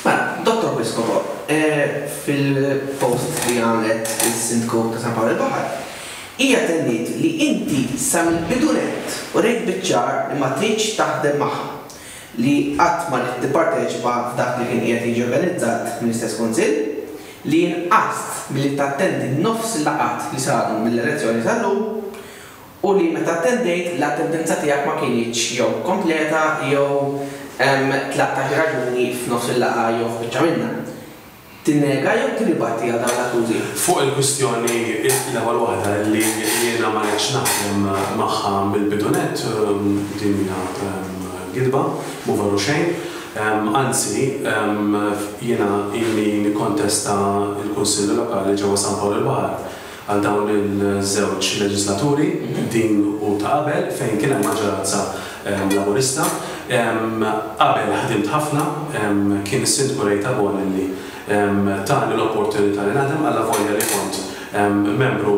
Mela, Dottor Piscopo, fil-post li għamlet is-Sindku ta' San Pawl il-Baħar, hija tenniet li inti sa mill-bidu nett urejt biċ-ċar li ma tridx taħdem magħha, li qatt ma ridt tipparteċipa f'dak li kien qiegħed jiġi organizzat mill-istess Kunsill, li inqast milli tattendi nofs il-laqgħat li saru mill-elezzjoni sal-lum, u li meta attendejt l-attendenza tiegħek ma kinitx jew kompleta jew hemm tlettax raġuni f'nofs il-laqgħa jew f'biċċa minnha. Tinnega jew tirribatti għal dawn l-akkużi? Fuq il-kwistjoni, l-ewwel waħda, li jiena ma ridtx naħdem magħha mill-bidu nett, din hija gidba, mhu veru xejn. Anzi, jiena ilni nikkontesta l-Kunsilli Lokali ġewwa San Pawl il-Baħar Għal dawn iż-żewġ leġislaturi, din u ta' qabel, fejn kien hemm maġġoranza Laburista. Qabel ħdimt ħafna, kien is-Sindku Ray Tabone li tani l-opportunità li naħdem allavolja li kont membru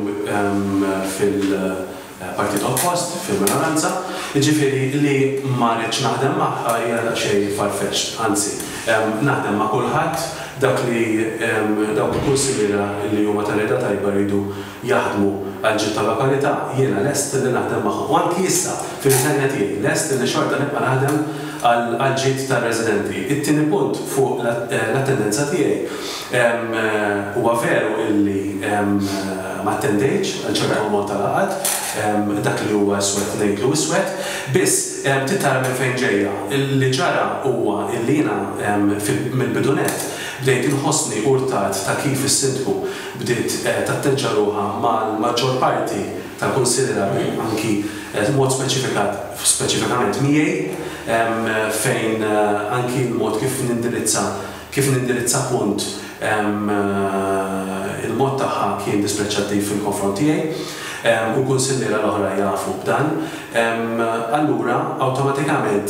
fil-, Partit Oppost, fil-minoranza, jiġifieri li ma rridx naħdem magħha hija daqsxejn far-fetched, anzi, naħdem ma' kulħadd dak li dawk li kunsidera li huma ta' rieda tajba jridu jaħdmu għall-ġid tal-lokalità, jiena lest li naħdem magħhom u anki issa, fir-riżenja tiegħi, lest li xorta nibqa' naħdem għall-ġid tar-residenti. It-tieni punt fuq l-attendenza tiegħi Huwa veru illi ma attendejtx għal ċertu ammont ta' laqgħat, dak li huwa iswed ngħidlu iswed, biss trid tara minn fejn ġejja. Li ġara huwa illi jiena mill-bidu nett bdejt inħossni urtat ta' kif is-Sindku bdiet tatteġġa ruħha mal-maġġor parti tal-Kunsilli Rabin, anki b'mod speċifikat, speċifikament miegħi, fejn anki l-mod kif nindirizza Kif nindirizza punt Il-mod tagħha kien dispreċċattiv fil-konfront tiegħi, u l-kunsilliera l-oħra jafu b'dan, allura awtomatikament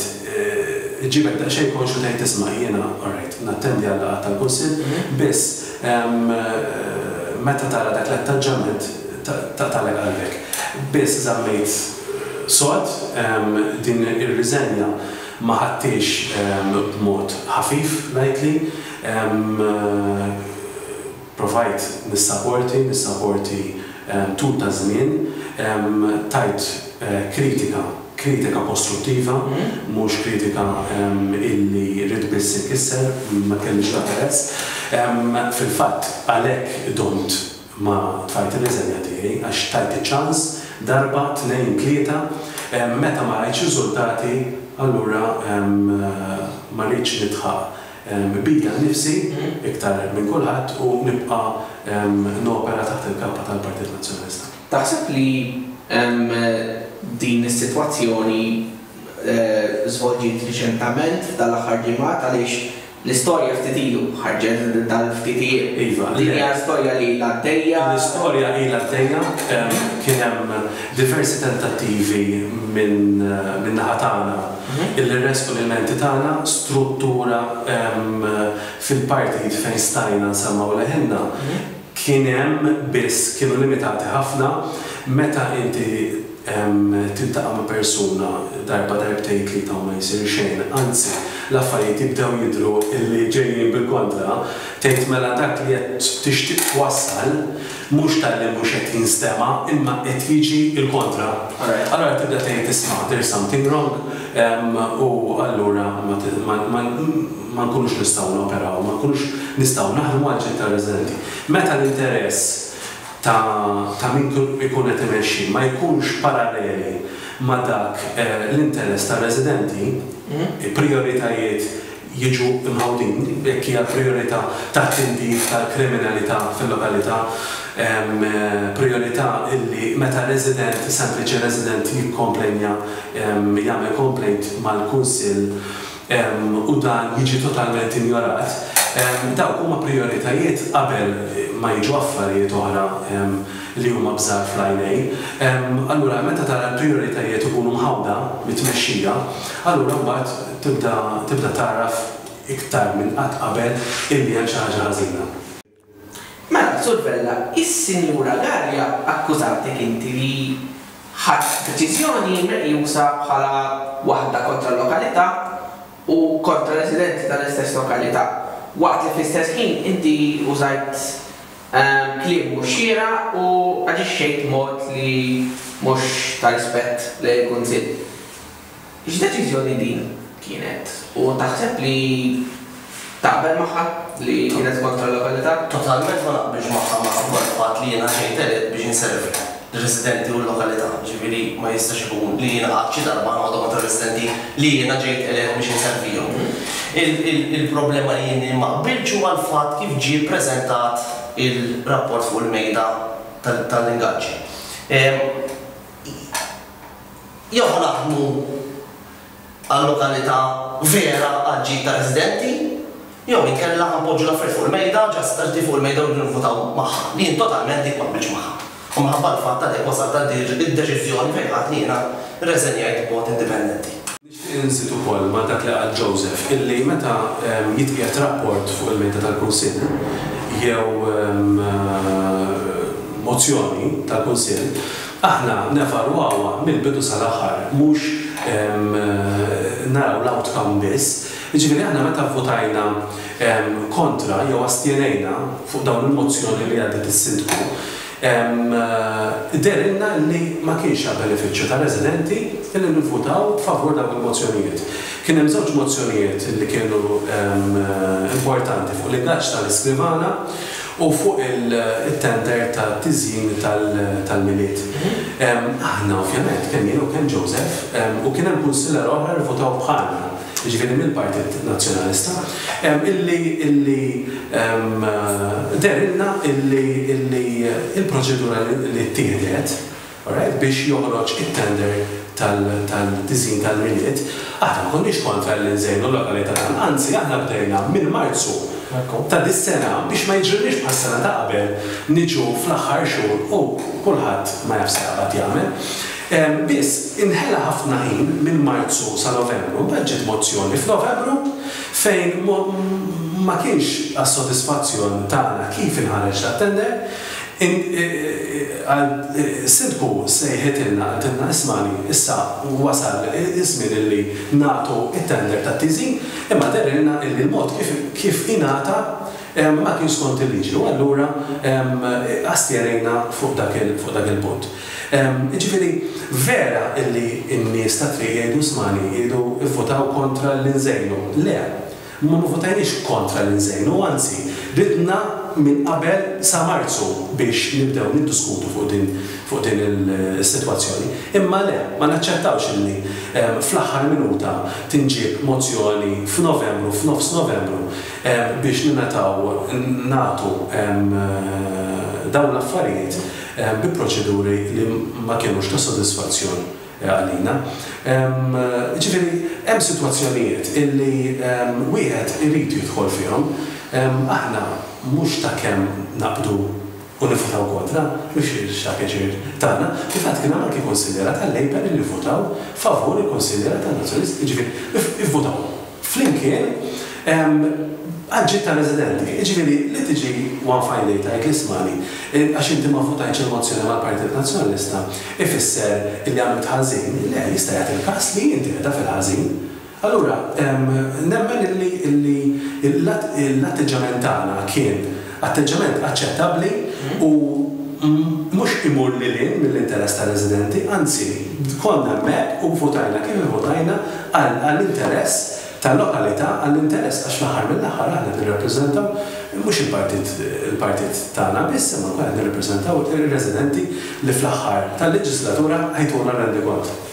iġġibek daqsxejn konxju tgħid isma' jiena alright, nattendi għal-laqgħat tal-Kunsill, biss meta tara dak l-attaġġament taqtagħlek qalbek. Biss żammejt sod din ir-riżenja Ma ħadthiex b'mod ħafif ngħidli. Provajt nissaporti, nissaporti tul ta' żmien. Tajt kritika, kritika kostruttiva, mhux kritika illi ridt biss inkisser, ma kellix l-interess. Fil-fatt għalhekk domt Ma tfajt ir-riżenja tiegħi għax tajti ċans darba, tnejn, tlieta, meta ma rajtx riżultati allura ma rridx nidħaq bija nnifsi iktar minn kulħadd u nibqa' nopera taħt il-kappa tal-Partit Nazzjonalista. Taħseb li din is-sitwazzjoni żvolġiet riċentament f'dan l-aħħar ġimgħat għaliex L-istorja ftit ilu ħarġet dan ftit ijiem. Iva. Din hija storja li ilha għaddejja? L-istorja ilha għaddejja. Kien hemm diversi tentattivi min-naħa tagħna illi nressqu l-ilmenti tagħna, struttura fil-partijiet fejn stajna nsemgħu leħinna. kien hemm biss kienu limitati ħafna meta inti tiltaqa' ma' persuna darba darbtejn tlieta u ma jsir xejn anzi l-affarijiet jibdew jidhru li ġejjin bil-kontra tgħid mela dak li qed tixtieq twassal mhux talli mhux qed jinstema' imma qed jiġi l-kontra allura tibda tgħid isma' there's something wrong u allura ma ma nkunux nistgħu noperaw, ma nkunux nistgħu naħdmu għal ġid tar-residenti. Meta l-interess ta' ta' min ikun qed imexxi ma jkunx paralleli ma' dak l-interess tar-residenti, il-prijoritajiet jiġu mħawdin, jekk hija l-prijorità tat-tindif tal-kriminalità fil-lokalità, prijorità li meta resident, sempliċi resident jikkomplejnja, jagħmel complaint mal-Kunsill, u dan jiġi totalment injorat, dawk huma prijoritajiet qabel ma jiġu affarijiet oħra li huma b'żgħar fl-għajnejn. Allura meta tara l-prijoritajiet ikunu mħawda mit-tmexxija, allura mbagħad tibda tibda tagħraf iktar minn qatt qabel illi hemm xi ħaġa ħażina. Mela, Sur Vella, is-Sinjura Galea akkużatek inti li ħadt deċiżjoni meqjusa bħala waħda kontra l-lokalità u kontra r-residenti tal-istess lokalità, waqt li fl-istess ħin inti użajt kliem mhux xieraq u aġixxejt b'mod li mhux ta' rispett lejn il-Kunsill. X'deċiżjoni din kienet? U taħseb li taqbel magħha li kienet kontra l-legalità? Totalment ma naqbilx magħha minħabba l-fatt li jiena ġejt elett biex inservi lir-residenti u l-lokalità, jiġifieri ma jistax ikun li jiena qatt xi darba noqgħod kontra r-residenti li jiena ġejt elett biex inservihom. Il-problema li jien ma qbiltx huwa l-fatt kif ġie ppreżentat ir-rapport fuq il-mejda tal-ingaġġi. jew ħanaħdmu għal lokalità vera għall-ġid tar-residenti jew inkella ħanpoġġu l-affarijiet fuq il-mejda, ġast qrti fuq il-mejda u rridu nivvutaw magħha, li jien totalment dik ma qbiltx magħha. U minħabba l-fatt għalhekk wasalt għal din id-deċiżjoni fejn ħadtni jiena rreżenjajt b'mod indipendenti. Nixtieq inżid ukoll ma' dak li qal Joseph illi meta jitqiegħed rapport fuq il-mejda tal-Kunsill jew mozzjoni tal-Kunsill, aħna nevalwawha mill-bidu sal-aħħar mhux naraw l-outcome biss. Jiġifieri aħna meta vvutajna kontra jew astjenejna fuq dawn il-mozzjoni li għaddiet is-Sindku, Jidhirlna li ma kienx għall-benefiċċju tar-residenti li nivvutaw favur dawk il-mozzjonijiet. Kien hemm żewġ mozzjonijiet li kienu importanti fuq l-ingaġġ tal-iskrivana u fuq it-tender tat-tiżjin tal-Milied. Aħna ovvjament, kemm jien u kemm Joseph, u kien hemm kunsilera oħra li vvutaw bħalna, jiġifieri mill-Partit Nazzjonalista, illi illi dehrilna illi illi l-proċedura li ttieħdet, alright, biex joħroġ it-tender tal tal-tiżjin tal-Milied, aħna ma konniex kontra li nżejnu l-lokalità tagħna, anzi aħna bdejna minn Marzu ta' dis-sena biex ma jiġrilniex bħas-sena ta' qabel niġu fl-aħħar xhur u kulħadd ma jaf se jaqbad jagħmel. Biss, inħela ħafna ħin minn Marzu sa Novembru, mbagħad ġiet mozzjoni f'Novembru fejn ma kienx għas-sodisfazzjon tagħna kif inħareġ tat-tender, Sindku sejħitilna qaltilna ismagħni issa wasal iż-żmien illi nagħtu t-tender tat-tiżin imma dehrilna illi l-mod kif ingħata ma kienx skont il-liġi u allura astjenejna fuq dak il-punt. Jiġifieri, vera illi n-nies tat-triq jgħidu smani, jgħidu vvutaw kontra lil Inżejnu. Le, ma vvutajniex kontra lil Inżejnu, anzi, ridna minn qabel sa Marzu biex nibdew niddiskutu fuq din fuq din is-sitwazzjoni. Imma le, ma naċċettawx illi fl-aħħar minuta tinġieb mozzjoni f'Novembru, f'nofs Novembru, biex ningħataw nagħtu dawn l-affarijiet bi proċeduri li ma kinux ta' sodisfazzjon għalina. Jiġifieri hemm sitwazzjonijiet illi wieħed irid jidħol fihom. Aħna mhux ta' kemm naqbdu u nivvutaw kontra, mhux ta' pjaċir tagħna. Fil-fatt kien hawn anki kunsilliera tal-Labour illi vvutaw favur il-kunsilliera tan-Nazzjonalisti, jiġifieri ivvutaw. flimkien, għall-ġid tar-residenti. Jiġifieri, li tiġi one fine day tgħid li ismagħni, għax inti ma vvutajtx il-mozzjoni mal-Partit Nazzjonalista ifisser illi għamilt ħażin. Le, jista' jagħti il-każ li inti qiegħda fil-ħażin. Allura, nemmen illi l-atteġġjament tagħna kien, Atteġġjament aċċettabbli u mhux imur lil hinn mill-interess tar-residenti, anzi, konna hemmhekk u vvutajna kif ivvutajna għall-interess tal-lokalità, għall-interess għax fl-aħħar mill-aħħar aħna nirrappreżentaw mhux il-partit il-partit tagħna biss imma wkoll qed nirrappreżentaw ir-residenti li fl-aħħar tal-leġislatura jtuna rendikont.